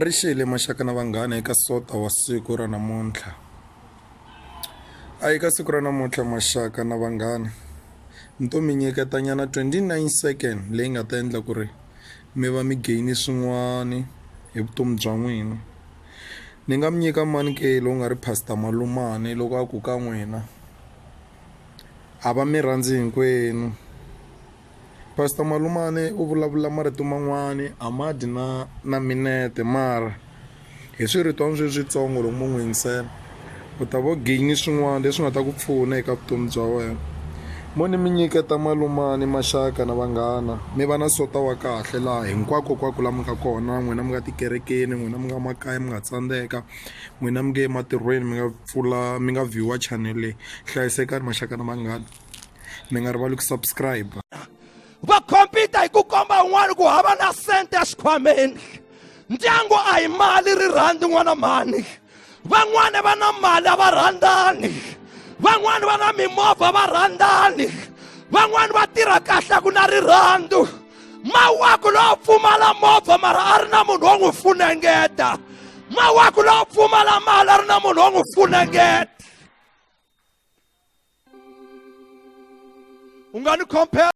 ri xele maxaka na vanghana eka sota wa siku ra namuntlha a eka siku ra namuntlha maxaka na vanghana ni to mi nyiketanyana 29 second leyi nga ta endla ku ri mi va mi gaini swin'wani hi vutomi bya n'wina ni nga mi nyika mani ke lowu nga ri pastor malumani loko a ku ka n'wina a va mi rhandzi hinkwenu Pastor Malumane u vulavula marito man'wani a ma dyi na na minete mara hi swiritwani swi switsongo loko mo n'wi yingisela u ta vo gain swin'wana leswi nga ta ku pfuna eka vutomi bya wena mo ni mi nyiketa malumani maxaka na vanghana mi va na sota wa kahle laha hinkwako kwako la mi nga kona n'wina mi nga tikerekeni n'wina mi nga makaya mi nga tsandzeka n'wina mi nge ematirhweni mi nga pfula mi nga view-a channel leyi hlayisekani maxaka na vanghana. mi nga rivali ku subscribe va khompita hi ku komba un'wana ku hava na sente exikhwameni ndyangu a hi mali ri rhandi n'wana mhani van'wani va na mali a va rhandzani van'wani va na mimovha va rhandzani van'wani va tirha kahle ku na rirhandzu mawaku lowo pfumala movha mara a ri na munhu wo n'wi funengeta mawaku lowo pfumala mali a ri na munhu wo n'wi funengeta u nga ni khompera